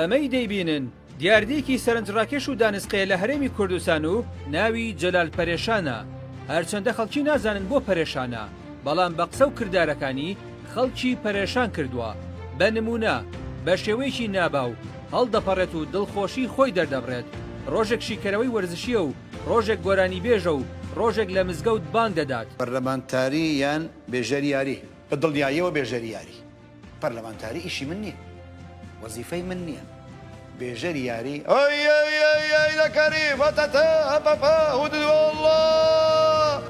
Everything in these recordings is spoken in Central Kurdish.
ئەمەی دەیبینن دیاردەیەکی سەرنجڕاکێش و دانسقەیە لە هەرێمی کوردستان و ناوی جەلال پەرێشانە هەرچەندە خەڵکی نازانن بۆ پەرێشانە بەڵام بە قسە و کردارەکانی خەڵکی پەرێشان کردووە، بە نموونە بە شێوەیەکی ناباو هەڵدەپەڕێت و دڵخۆشیی خۆی دەردەبڕێت، ڕۆژێک شیکەرەوەی وەرزشییە و ڕۆژێک گۆرانیبێژە و ڕۆژێک لە مزگەوت بانگ دەدات. پەرلەمانتاری یان بێژەری یاری؟ بە دڵنیاییەوە بێژەری یاری. پەرلەمانتاری ئیشی من نییە. وەزیفەی من نیە بێژەری یاری ئۆی ئۆی ئۆی ئۆی لە کەری فەتەتە ئەپەپە هودووەڵڵا.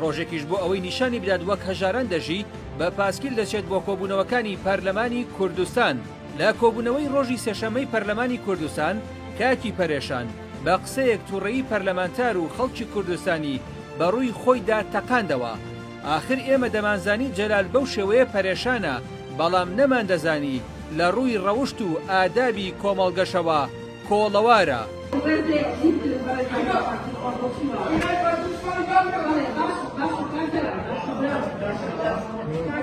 ڕۆژێکیش بۆ ئەوەی نیشانی بدات وەک هەژاران دەژی، بە پاسکیل دەچێت بۆ کۆبوونەوەکانی پەرلەمانی کوردستان. لە کۆبوونەوەی ڕۆژی سێشەممەی پەرلەمانی کوردستان، کاکی پەرێشان، بە قسەیەک تووڕەیی پەرلەمانتار و خەڵکی کوردستانی بە ڕووی خۆیدا تەقاندەوە. ئاخر ئێمە دەمانزانی جەلال بەو شێوەیە پەرێشانە، بەڵام نەماندەزانی لە ڕووی ڕەوشت و ئادابی کۆمەڵگەشەوە کۆڵەوارە.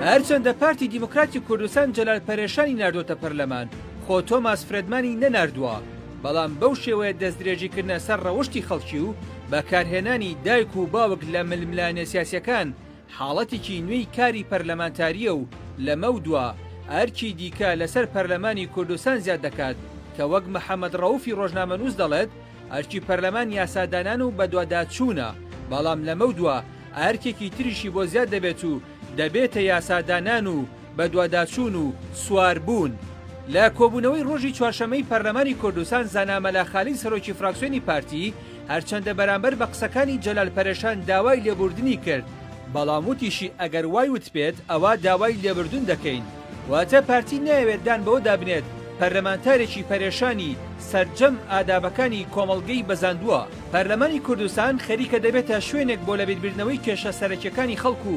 هەرچەندە پارتی دیموکراتی کوردستان جەلال پەرێشانی ناردۆتە پەرلەمان، خۆ تۆماس فرێدمانی نەناردووە، بەڵام بەو شێوەیە دەستدرێژیکردنە سەر ڕەوشتی خەڵکی و بەکارهێنانی دایک و باوک لە ململانێ سیاسیەکان حاڵەتیکی نوێی کاری پەرلەمانتاریە و لەمەودوا ئەرکی دیکە لەسەر پەرلەمانی کوردستان زیاد دەکات کە وەک محەمەد ڕەوفی ڕۆژنامەنووس دەڵێت ئەرکی پەرلەمان یاسادانان و بەدواداچوونە بەڵام لەمەودوا ئەرکێکی تریشی بۆ زیاد دەبێت و دەبێتە یاسادانان و بەدواداچوون و سواربوون. لە کۆبوونەوەی ڕۆژی چوارشەممەی پەرلەمانی کوردستان زانا مەلا خالید سەرۆکی فراکسیۆنی پارتی هەرچەندە بەرامبەر بە قسەکانی جەلال پەرێشان داوای لێبووردنی کرد، بەڵام وتیشی ئەگەر وای وتبێت ئەوا داوای لێبردون دەکەین، واتە پارتی نایەوێت دان بەوەدا بنێت پەرلەمانتارێکی پەرێشانی سەرجەم ئادابەکانی کۆمەڵگەی بەزاندووە. پەرلەمانی کوردستان خەریکە دەبێتە شوێنێک بۆ لەبیربردنەوەی کێشە سەرەکیەکانی خەڵک و،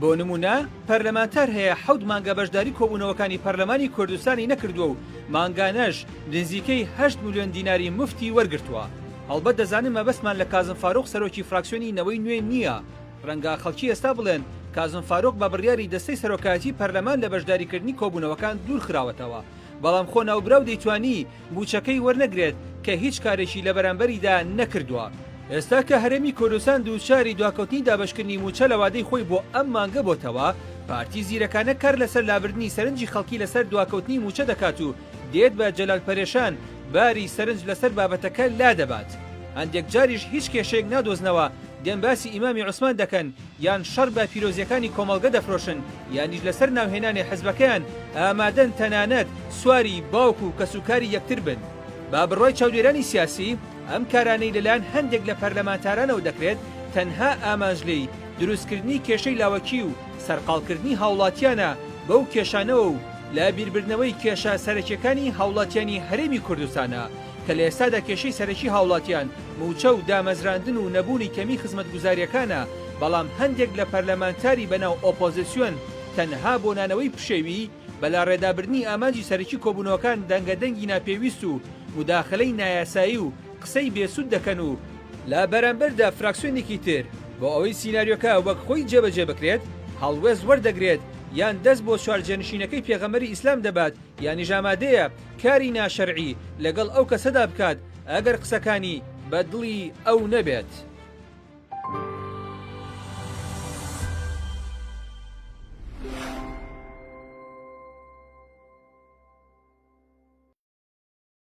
بۆ نموونە پەرلەمانتار هەیە حەوت مانگە بەشداری کۆبوونەوەکانی پەرلەمانی کوردستانی نەکردووە و مانگانەش نزیکەی هەشت ملیۆن دیناری موفتی وەرگرتووە. هەڵبەت دەزانم مەبەستمان لە کازم فاروق سەرۆکی فراکسیۆنی نەوەی نوێ نییە، رەنگە خەڵکی ئێستا بڵێن کازم فاروق بە بڕیاری دەستەی سەرۆکایەتی پەرلەمان لە بەشداریکردنی کۆبوونەوەکان دوورخراوەتەوە، بەڵام خۆ ناوبراو دەیتوانی مووچەکەی وەرنەگرێت کە هیچ کارێکی لە بەرامبەریدا نەکردووە. ئێستا کە هەرێمی کوردستان دووچاری دواکەوتنی دابەشکردنی مووچە لە وادەی خۆی بۆ ئەم مانگە بۆتەوە، پارتی زیرەکانە کار لەسەر لابردنی سەرنجی خەڵکی لەسەر دواکەوتنی مووچە دەکات و دێت بە جەلال پەرێشان باری سەرنج لەسەر بابەتەکە لادەبات. هەندێک جاریش هیچ کێشەیەک نادۆزنەوە دێن باسی ئیمامی عوسمان دەکەن یان شەڕ بە پیرۆزیەکانی کۆمەڵگە دەفرۆشن یانیش لەسەر ناوهێنانی حزبەکەیان ئامادەن تەنانەت سواری باوک و کەس و کاری یەکتر بن با بڕوای چاودێرانی سیاسی ئەم کارانەی لەلایەن هەندێک لە پەرلەمانتارانەوە دەکرێت تەنها ئامانج لێی دروستکردنی کێشەی لاوەکی و سەرقاڵکردنی هاوڵاتیانە بەو کێشانەوە و لە بیربردنەوەی کێشە سەرەکیەکانی هاوڵاتیانی هەرێمی کوردستانە کە لە ئێستادا کێشەی سەرەکی هاوڵاتیان مووچە و دامەزراندن و نەبوونی کەمی خزمەتگوزاریەکانە، بەڵام هەندێک لە پەرلەمانتاری بەناو ئۆپۆزسیۆن تەنها بۆ نانەوەی پشێوی بەلاڕێدابردنی ئامانجی سەرەکی کۆبوونەوەکان دەنگە دەنگی ناپێویست و موداخەلەی نایاسایی و قسەی بێ سوود دەکەن و لە بەرامبەردا فراکسیۆنێکی تر بۆ ئەوەی سیناریۆکە وەک خۆی جێبەجێ بکرێت هەڵوێست وەردەگرێت یان دەست بۆ چوارجێنشینەکەی پێغەمبەری ئیسلام دەبات یانیش ئامادەیە کاری ناشەرعی لەگەڵ ئەو کەسەدا بکات ئەگەر قسەکانی بە دڵی ئەو نەبێت.